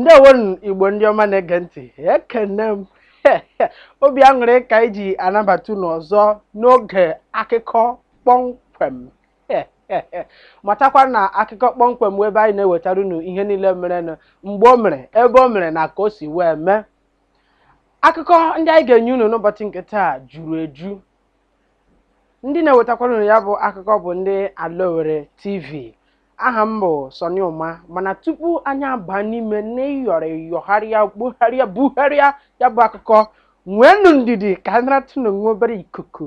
ndewonụ igbo ndị ọma na-ege ntị ekene m obi aṅụrị ka anyị ji anabata unu ọzọ n'oge akụkọ kpọmkwem matakwa na akụkọ kpọmkwem wụ ebe anyị na-ewetara unu ihe niile merenụ mgbe o mere ebe o mere na ka o si wee mee akụkọ ndị anyị ga-enye unu n'ụbọchị nke taa juru eju ndị na-ewetakwara unu ya bụ akụkọ bụ ndị ala Owerri TV aha m bụ Sọni Ụma mana tupu anyị aba n'ime n'ịyọrọ yọgharịa gbugharịa bugharịa ya bụ akụkọ nweenụ ndidi ka anyị naratụnụ nwa obere ikuku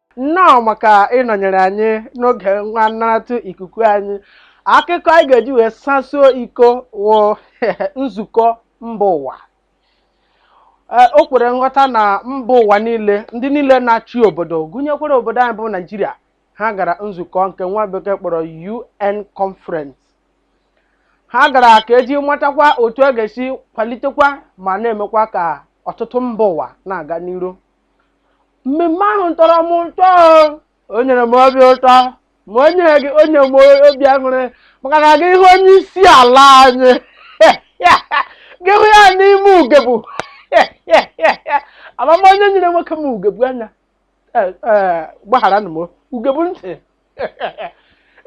nnọọ maka ịnọnyere anyị n'oge nwa nnaratụ ikuku anyị akụkọ anyị ga-eji wee sasuo iko wụ nzukọ mba ụwa Ee, o kwere nghọta na mba ụwa niile ndị niile na-achị obodo gụnyekwara obodo anyị bụ naijiria ha gara nzukọ nke nwa bekee kpọrọ un conference ha gara ka e ji matakwa otu a ga-esi kwalitekwa ma na-emekwa ka ọtụtụ mba ụwa na-aga n'iru mmemme ahụ tọrọ m ụtọ o nyere m obi ụtọ ma o nye m obi aṅụrị maka na gị hụ onye isi ala anyị gị hụ ya n'ime ugegbe amama onye nyere nwoke m ugegbe anya gbagharanụ m ugegbe ntị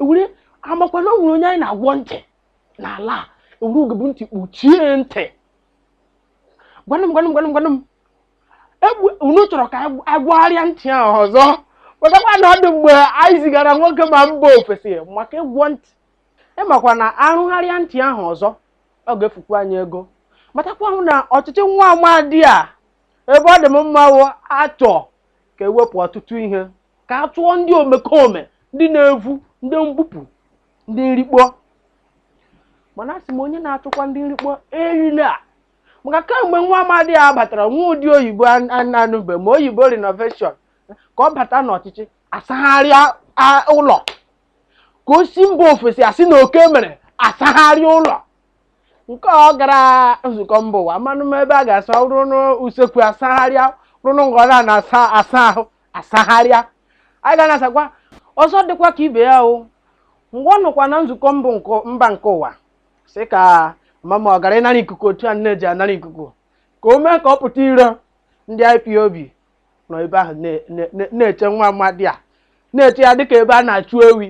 ewere amakwa na o nwere onye anyị na-agwọ ntị n'ala e were ugegbe ntị kpuchie ntị gwanụ m gwanụ m gwanụ m gwanụ m unu chọrọ ka a gwọgharịa ntị ahụ ọzọ chetakwa na ọ dị mgbe anyị zigara nwoke m a mba ofesi maka ịgwọ ntị ị makwa na a rụgharịa ntị ahụ ọzọ ọ ga-efukwa anyị ego matakwanụ na ọchịchị nwa amadi a ebe ọ dị m mma wụ achọ ka e wepụ ọtụtụ ihe ka a chụọ ndị omekome ndị na-evu ndị mbupụ ndị nrikpọ mana asị m onye na-achụkwa ndị nrikpọ erila maka kemgbe nwa amadi a batara nwa ụdị oyibo anụbe m oyibo renovation ka ọ bata n'ọchịchị asagharịa ụlọ ka o si mba ofesi a sị na oke mere asagharịa ụlọ nke ọ gara nzukọ mba ụwa manụ m ebe a ga-asa ruru n'usekwu asagharịa ruru nga a na-asa ahụ asagharịa anyị ga na-asakwa ọzọ dịkwa ka ibe ya o ngwa nọkwa na nzukọ mba nke ụwa sị ka mama ọ gara ịnara ikuku otu a na-eji anara ikuku ka o mee ka ọ pụta iro ndị ipob nọ ebe ahụ na- na- na- na-eche nwa amadi a na-eche ya dịka ebe a na-achụ ewi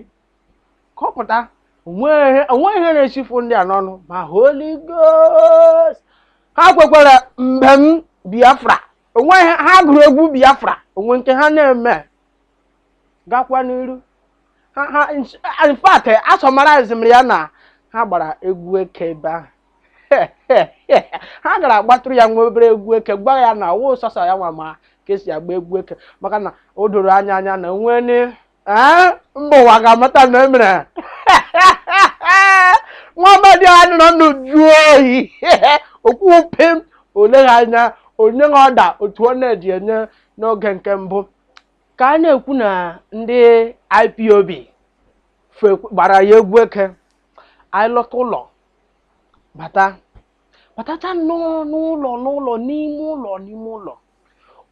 ka ọ pụta onweghị onweghị ihe na-esifu ndị a n'ọnụ ma holy ghost ha kwekwara mbem biafra onwe ha gụrụ egwu biafra onwe nke ha na-eme gakwa n'iru in fact asummarize m ya na ha gbara egwu eke ebe ahụ ha gara agbatụrụ ya nwa obere egwu eke gwa ya na ọwụ sọsọ ya nwa ma ka esi agba egwu eke maka na o doro anya anya na nwee ni ee mba ụwa ga-amata na emere nwa amadi a nọrọ n'uju oyi okwu pim o leghị anya o nyeghị order otu ọ na-eji enye n'oge nke mbụ ka a na-ekwu na ndị ipob fe- gbara ya egwu eke anyị lọta ụlọ bata batacha nnọọ n'ụlọ n'ụlọ n'ime ụlọ n'ime ụlọ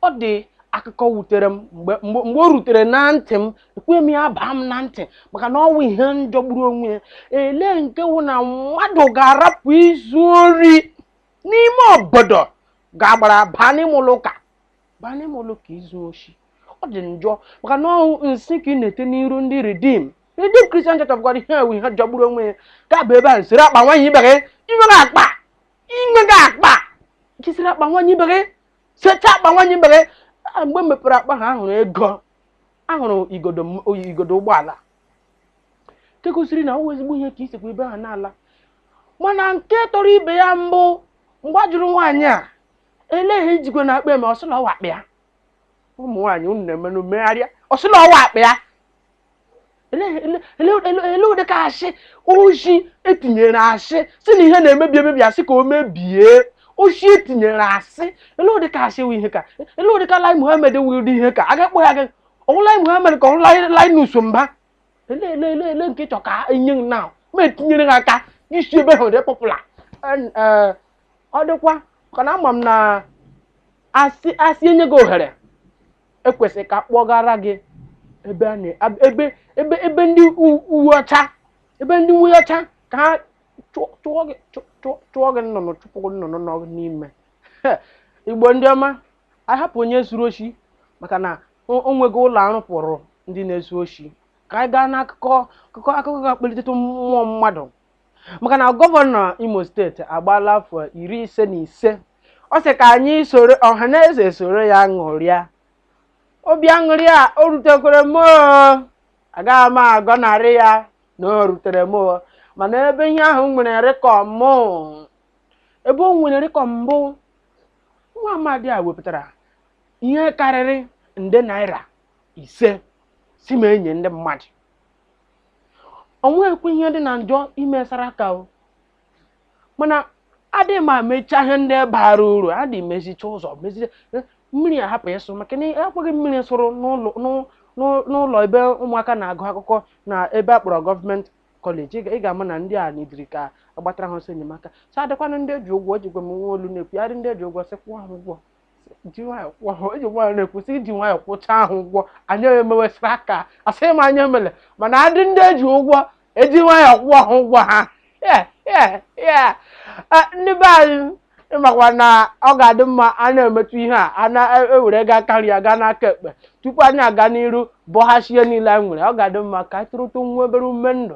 ọ dị akụkọ wutere m mgbe mgbe mgbe o rutere na ntị m ekwe m ya baa m na ntị maka na ọwụ ihe jọgburu onwe ya elee nke wụ na mmadụ ga-arapụ izu ori n'ime obodo ga-agbara baa n'ime ụlọ ụka baa n'ime ụlọ ụka izu oshi ọ dị njọ maka na ọwụ nsị ka ị na-ete n'iru ndị redeem redeem christian church of god ihe a wụ ihe jọgburu onwe ya ka bụ ebe a nsịrị akpa nwaanyị ibe gị inwere akpa inweghị akpa jisiri akpa nwaanyị ibe gị secha akpa nwaanyị ibe gị Ah, mgbe e mepere akpa ahụ ahụrụ ego ahụrụ igodo ụgbọala nke gosiri na ọ wụ ezigbo ihe ka isikwa ebe ahụ na-ala mana nke tọrọ ibe ya bụ mgbe a jụrụ nwaanyị a elee ihe ijikwanụ akpa eme ọsị la ọwụ akpa ya ụmụ nwaanyị unu na-emenụ megharịa ọsị la ọwụ akpa ya ele ụdị ka asị oshi etinyere asị si na ihe na-emebi emebi asị ka o mebie oshi etinyere asị ele ụdị ka asị wụ ihe ka ele ụdị ka lai mohammed wụ ụdị ihe ka a ga-akpọ ya gị ọwụ lai mohammed ka ọwụ linus mba ele ele ele ele nke ịchọ ka enye m na ma etinyere ha aka isi ebe ahụ dị popular ọ dịkwa maka na ama m na asị asị enye gị ohere ekwesịrị ka kpọgara gị ebe a na- ab- ebe ebe ebe ndị u- uwe ọcha ebe ndị uwe ọcha ka ha chụọ chụọ gị chụ- chụ- chụọ gị nnụnụ chụpụ gị nnụnụ nọ gị n'ime igbo ndị ọma anyị hapụ onye zuru oshi maka na o o nweghị ụlọ arụpụrụ ndị na-ezu oshi ka anyị gaa n'akụkọ akụkọ akụkọ ga-akpalitetụ mmụọ mmadụ maka na gọvanọ imo steeti agbaala afọ iri ise na ise ọ sị ka anyị soro ọha na eze soro ya ṅụrịa obi aṅụrị a o rutekwere m oo. agaghị m agọnarị ya na o rutere m oo. mana ebe ihe ahụ nwere rịkọm ebe o nwere rịkọm bụ nwa amadi a wepụtara ihe karịrị nde naira ise sị m enye ndị mmadụ o nweghịkwa ihe dị na njọ ime saraka o mana adị ma mechaa ihe ndị bara uru adị mezicha ụzọ mezicha eh, mmiri ahapụ ịsụ maka na ekweghị mmiri sụrụ n'ụlọ n'ụ- n'ụ- n'ụlọ ebe ụmụaka na-agụ akwụkwọ na ebe a kpọrọ gọọmenti kọleji ị ga-ama na ndị a nidiri ka a gbatara ha ọsọ enyemaka so adịkwanụ ndị eji ụgwọ ejikwa m nwa olu na-ekwu adị ndị eji ụgwọ sị kwụọ ha ụgwọ ji nwayọ kwụọ ha eji nwayọ na-ekwesị iji nwayọ kwụcha ha ụgwọ anyị emewe saraka asịghị m anyị emele mana adị ndị eji ụgwọ eji nwayọ kwụọ ha ụgwọ ha Yeah, yeah, yeah. Eh, ndị be anyị ị makwa na ọ ga-adị mma anyị emetụ ihe a a na-ewere gaa aka nri ya gaa n'aka ekpe tupu anyị aga n'iru bọchasịa ihe niile anyị nwere ọ ga-adị mma ka anyị tụrụtụ nwa obere ume ndụ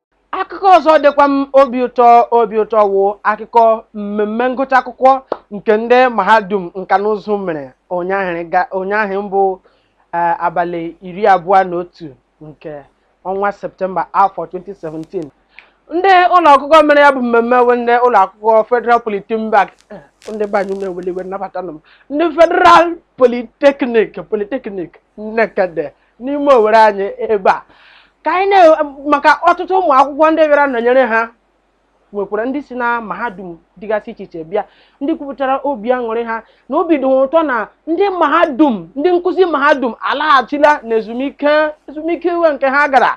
akụkọ ọzọ dịkwa m obi ụtọ obi ụtọ wụ akụkọ mmemme ngụcha akwụkwọ nke ndị mahadum nka na ụzụ mere ụnyaahụ ga- ụnyaahụ bụ eh, abalị iri abụọ na otu nke ọnwa septemba afọ 2017 ndị ụlọ akwụkwọ mere ya bụ mmemme wụ ndị ụlọ akwụkwọ federal polytechnic eh, ndị be anyị ewela iwe nabatanụ m ndị federal polytechnic polytechnic nekede n'ime owere anyị ebe a ka anyị na maka ọtụtụ ụmụ akwụkwọ ndị bịara nọnyere ha nwekwara ndị si na mahadum dịgasị iche iche bịa ndị kwupụtara obi aṅụrị ha na obi dị ha ụtọ na ndị mahadum ndị nkụzi mahadum alaghachila na ezumike ezumike iwe nke ha gara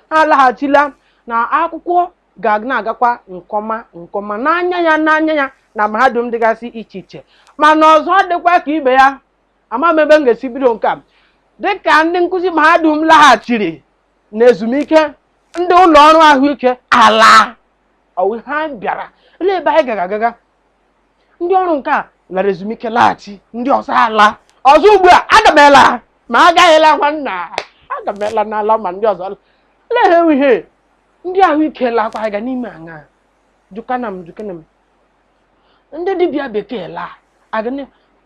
ha alaghachila na akwụkwọ ga na-agakwa nke ọma nke ọma n'anya ya n'anya ya na mahadum dịgasị iche iche mana ọzọ dịkwa ka ibe ya ama m ebe m ga-esi bido nke a dịka ndị nkụzi mahadum laghachiri na ezumike ndị ụlọ ọrụ ahụike alaa ọ wụ ihe anyị bịara elee ebe anyị gara agaga ndị ọrụ nke a lara ezumike laghachi ndị ọzọ alaa ọzọ ugbu a aga m ela ma agaghịla nwa nna aga m ela n'ala ma ndị ọzọ ala lehe ihe ndị ahụike lakwa anyị ga na-eme aṅaa jụkana m jụkana m ndị dibịa bekee laa agịnị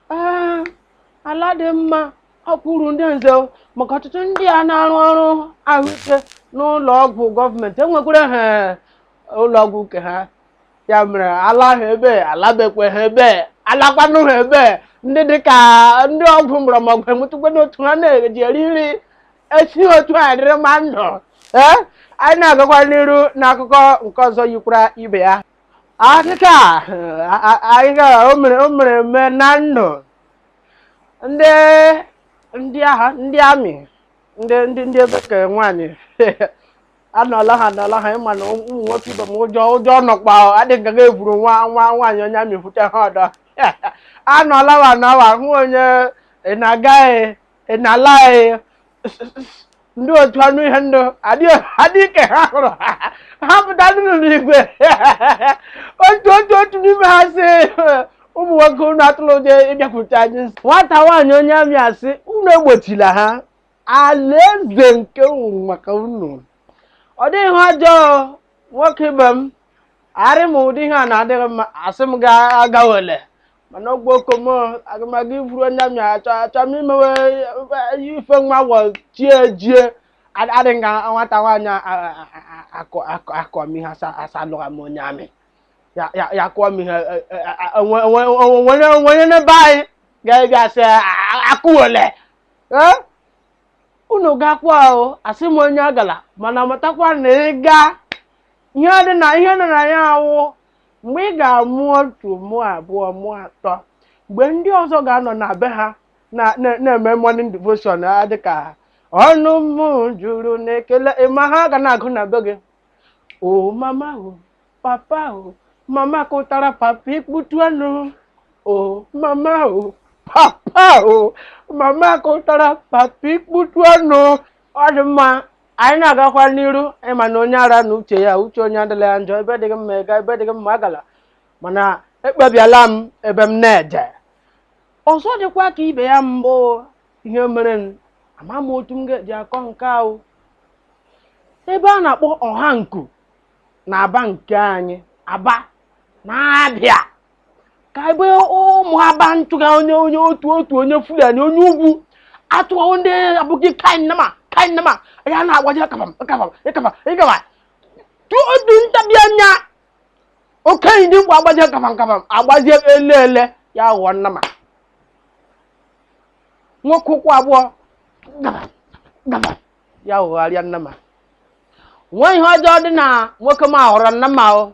Ah, ala adịghị mma ọ wụ uru ndị nze o, maka ọtụtụ ndị a na-arụ ọrụ ahụike n'ụlọ ọgwụ gọọmenti enwekwara ha ụlọ ọgwụ nke ha ya mere ala ha ebe alabekwe ha ebe alakwanụ ha ebe ndị dịka ndị ọgwụ mgbọrọgwụ enwetụkwanụ otu ha na-eji eri nri esi otu a dịrịma ndụ ee anyị na-agakwa n'iru n'akụkọ nke ọzọ yikwara ibe ya akụkọ akụkọ o mere eme na ndụ ndị ndị agha ndị amị ndị ndị ndị bekee nwaanyị anọla ha anọla ha ịma na ụmụ nwoke ibe m ụjọ nọkwa adịghị aga eburu nwaanyị onye amị vute ha ọdọ anọla wa na wa hụ onye ị na-agaghị ị na-ala anyị ndị otu anụ ihe ndụ adị ike ha hụrụ ha pụta ndị nọ n'igwe otu n'ime ha sị ụmụ nwoke unu atụrụ ụjọ ịbịakwute anyị nwata nwaanyị onye amị asị unu egbochila ha alaeze nke nwụrụ maka unu ọ dịghị ihe ọjọọ nwoke ibe m arị m ụdị ihe a na-adịghị mma asị m gị agawele mana ọgwụ okom agụmagụ iburu onye amị achọ m imewe eh, ife nwa wọ chi ejie adị nga nwata nwaanyị akụọ m ihe asalụgha m onye amị ya kụọ m ihe onwere n'ebe anyị ga-ebịa sị akụwele ee unu gakwa ahụ asị m onye agala mana matakwa na ị gaa ihe dị na ya awụ Mgbe ị ga-amụ otu mụọ abụọ mụọ atọ mgbe ndị ọzọ ga-anọ na be ha na-eme morning devotion dịka ọnụ m juru n'ekele ịma ihe a ga na-agụ na be gị o mama o papa o mama kụtara papa ikputu ọnụ o mama o papa o mama kụtara papa ikputu ọnụ ọ dị mma anyị na-agakwa n'iru ịma na onye ara na uche ya uche onye adịla ya njọ ebe dịghị mma ịga ebe dịghị mma agala mana ekpebiela m ebe m na-eje ọzọ dịkwa ka ibe ya mbụ ihe mere ama m otu m ga-eji akọ nke ahụ ebe a na-akpọ Ọhanku na Aba nke anyị Aba na Abịa ka ebe ụmụ aba ntụga onye otu onye Fulani onye ugwu atụghawo ndị abụghị kainama ya na-agbaji akabam ịkaba tụọ otu ntabi anya okenye dimkpa agbaji akabam agbaji ele ya ghọọ nnama nwoke ụkwụ abụọ gaba ya ghọgharịa nnama nwa ihe ọjọọ dị na nwoke m ahụrụ nnama o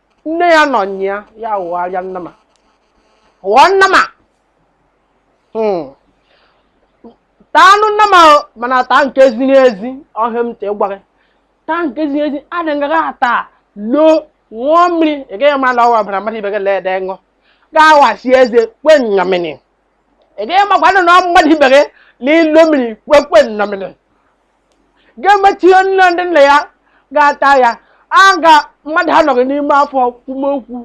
nne ya nọ nya ya ya ghọgharịa nnama ghọọ nnama Hmm. taa anụ nnama o, mana taa nke ziri ezi ọ ihe m ji gwa gị taa nke ziri ezi adịghị ata loo ṅụọ mmiri ị gaghị ma na ọ wụ ọbara mmadụ ibe gị lee ede ṅụ ga-awachi eze kwe nnyamini ị gaghị makwa na ọ mmadụ ibe gị na ilo mmiri kwekwe nnamini ga-emechi ihe nne ndị nna ya ga-ata ya a ga mmadụ anọ gị n'ime afọ kwume okwu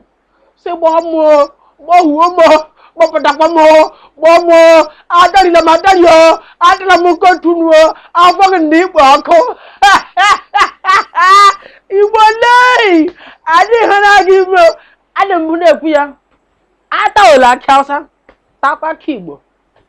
sị gbọọ m o, gbọọ huo m o, gbọpụtakwa m o, gbọọ m o, atarịla m atarị o atala m nke otu nu o afọ gị dị ikpo ọkụ igbo lee adịghị na gị ime o. adị m na-ekwu ya atawela akị awụsa takwa akị igbo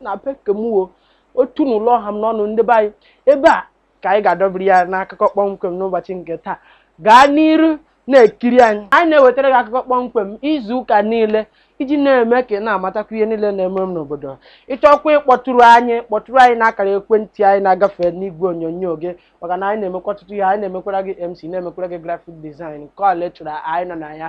na be kemuo otu na ụlọ ọha m n'ọnụ ndị be anyị ebe a ka anyị ga-adọbiri ya n'akụkọ kpọmkwem n'ụbọchị nke taa gaa n'iru na-ekiri anyị anyị na-ewetara gị akụkọ kpọmkwem izu ụka niile iji na-eme ka ị na-amatakwa ihe niile na-eme m n'obodo ị chọkwa ịkpọtụrụ anyị kpọtụrụ anyị n'akara ekwentị anyị na-agafe n'igwe onyonyo gị maka na anyị na-emekwa ọtụtụ ihe anyị na-emekwara gị MC na-emekwara gị graphic design nke ọbụla ị chọrọ anyị nọ na ya